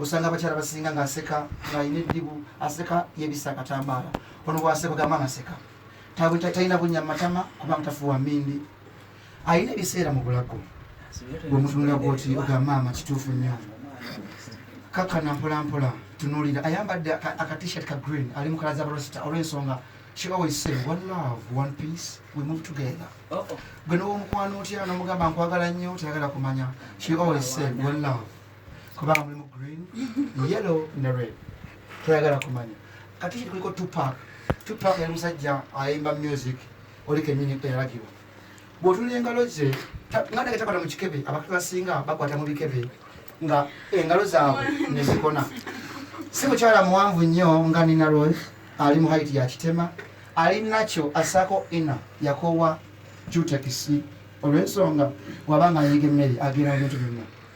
osanga abakyala basinga ngaaseka ngaalina eddibu aseka yebisa akatambaala ono bwaseka ogamba anaseka talina bunya mumatama kubanga tafuwa mindi alina ebiseera mu bulago bwemutunula gwoti ogamba maama kituufu nnyo kakana mpolampola tunulira ayambadde akatishat ka green ali mukala za barosita olwensonga she always say one love one peace we move together oh, oh. gwe nowomukwano otya nomugamba nkwagala nnyo tayagala kumanya she always say one love kubanga mulimu green yellow ne red toyagala kumanya ate kiri kuliko tupak tupak yali musajja ayimba music oli kenyini eyalagibwa bwotula engalo ze nga nage takwata mu kikebe abakatu basinga bakwata mu bikebe nga engalo zaabwe nezikona si mukyala muwanvu nnyo nga nina rose ali mu haiti ya kitema ali nakyo asako ina yakowa jutekisi olwensonga wabanga ayiga emmere agenda mu bintu byonna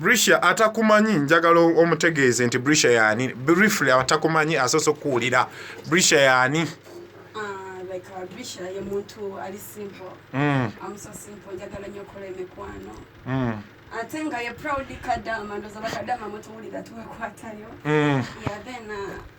brisha atakumanyi njagala omutegeeze nti brisha yaani briefly atakumanyi asoose okuwulira brisha yaani ate nga ye proud kadama ndoza bakadama mutuwulira tuwekwatayo mm. yeah, then, uh,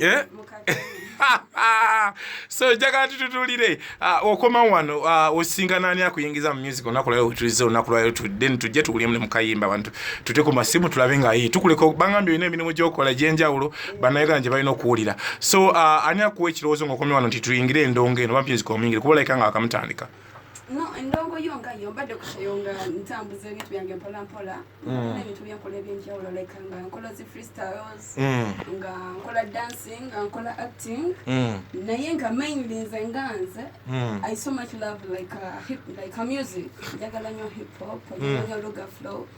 Eh? so njagala tututulire ah, okoma wano ah, osinga nani akuyingiza mu music olunaku lwayo wetulize olunaku lwayo then tujje tukulemu nemukayimba bantu tute ku masimu tulabe nga ye tukuleka bangambye olina emirimu gyokola egyenjawulo banayuganda gye balina okuwulira so ah, ani akuwa ekirowoozo ngaokomi wano nti tuyingire endongo eno bamusic omuyingire kuba olabika nga akamutandika no endongo yo nga yo mbadde kuseyo nga ntambuza ebintu byange mpola mpola mm. n'ebintu byenkola ebyenjawulo like nga nkola zi freestyles mm. nga nkola dancing nga nkola acting mm. naye nga mainly nze nga nze i so much love like, uh, hip, like uh, music njagala nyo hip hop njagala nyo luga flow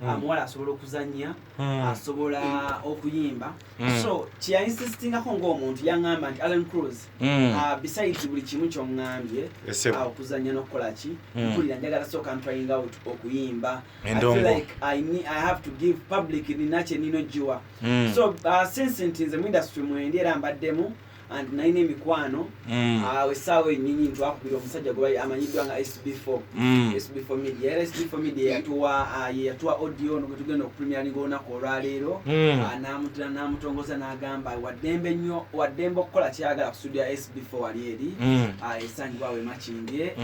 hmm. amuwala asobola okuzanya hmm. asobola okuyimba hmm. so kyeyainsitingako ngaomuntu yaŋamba nti allen cruz uh, besides buli kimu kyoŋambye uh, okuzanya nokukolaki mpulira njagala soka ntrying out okuyimba so uh, since nti nze muindustry mwendi era mbaddemu and nalina emikwano mm. awo essaawa enyinyi ntwakubira omusajja gwe amanyiddwa nga sb4 mm. sb4 media era sb4 media yatuwa ah, yatuwa audio ono gwetugenda okupremiaringa olunaku olwaleero mm. ah, namutira namutongoza nagamba waddembe nnyo waddembe okukola kyeyagala ku studio ya sb4 wali eri esangibwa wemakindye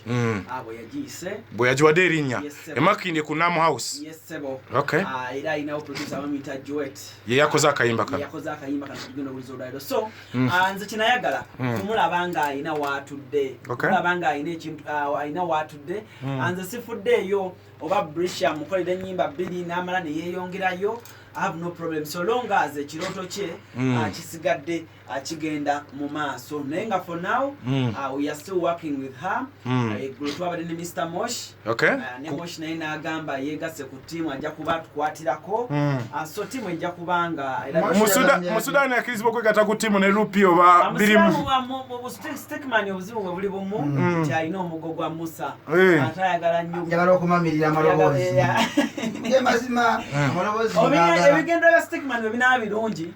Mm. Ah, bwe yagiwadde erinnya emakindi ku nam house ah, ye yakoze akayimba kanonze mm. ah, kyenayagala mm. kumulaba nga alina watudde mulaba nga alina watudde nze sifuddeeyo oba brisha mukolera enyimba bbiri n'amala neyeyongerayo have no problem so long as ekirooto kye kisigadde akigenda mu maaso naye nga for now mm. uh, we are still working with her mm. uh, eggulo twabadde ne mr mosh okay. uh, ne mosh naye n'agamba yeegasse ku tiimu ajja kuba atukwatirako mm. uh, so tiimu ejja kuba nga mu sudaani akirizibwa okwegatta ku tiimu ne lupi oba birimustikmani obuzibu bwe buli bumu mm. nti alina omugo gwa musa eh. ate ayagala nnyonjagala okumamirira amaloboozi mazima amaloboozi ebigendo bya stikmani bwe binaba birungi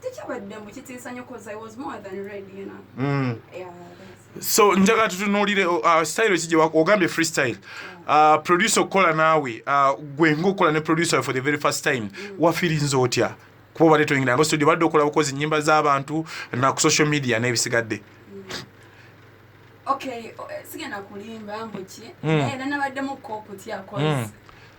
tekyabadde mbu kitiisa nnyo cause i was more than ready you know mm. yeah, so njagala tutunuulire uh, uh style ki ogambye freestyle uh, producer okukola naawe uh, gwe ngaokukola ne producer for the very first time mm. wafirinza otya kuba obadde toyingira nga studio badde okola bukozi nyimba z'abantu na ku social media n'ebisigadde mm. okay, sigenda kulimba mbuki mm. eh, nanabaddemu kokutya mm.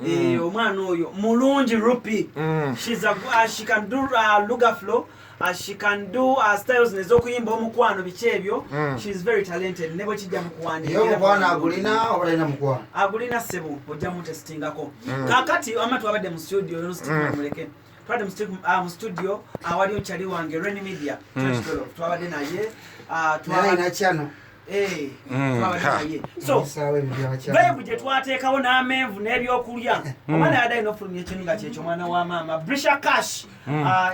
Mm. Eh, omwana oyo mulungi rupi mm. uh, she can do uh, luga flow uh, she can do uh, styles nezokuyimba omukwano biki ebyo mm. she is very talented nebo kijja mukuwandiomukwana agulina obalina mukwano agulina sebo ojja mutestingako kakati amatu abadde mu studio yonstimuleke twade mu ah, studio awali ah, okyali wange ren media hmm. twabadde naye ah, twalinakyano eh, hmm, bebu gyetwateekawo n'amenvu n'ebyokulya hmm. omwana yadde alina okufulumya ekintu nga kyekyo omwana wa maama brisha cash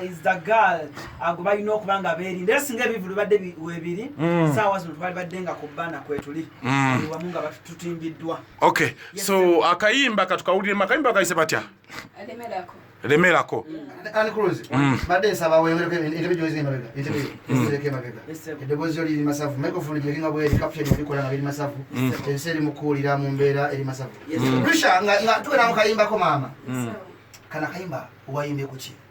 is the girl ago balina okuba nga beerinda era singa ebivu bibadde webiri saawa zino twali badde nga ku bbaana kwetuli wamu nga tutimbiddwa okay so akayimba katukawuliremu akayimba kayise batya lemerako mbadde nsaba weyongereko entebe gyozi emabega entebe ezireko emabega eddoboozi yo liri masavu microphone gyeringa bweri caption ebikola nga biri masavu ensi eri mukuwulira mu mbeera eri masavu risha nga tuwera mu kayimbako maama kana kayimba wayimbye kuki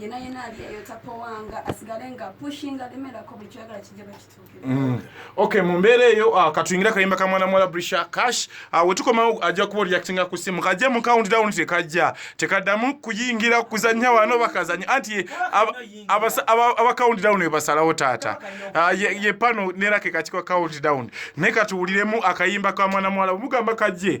yena yena aliyeyo tapowanga asigale nga pushinga alemerako buli kyoyagala kijja bakituukira mm. okay mu mbeera eyo uh, katuyingira akayimba ka mwana muwala brisha cash uh, wetukomawo ajja kuba reactinga ku simu kajja mu count down tekajja tekaddamu kuyingira kuzannya wano bakazannya anti aba count down ebasalawo taata uh, ye pano nerake kakiko count down naye katuwuliremu akayimba ka mwana muwala omugamba kajje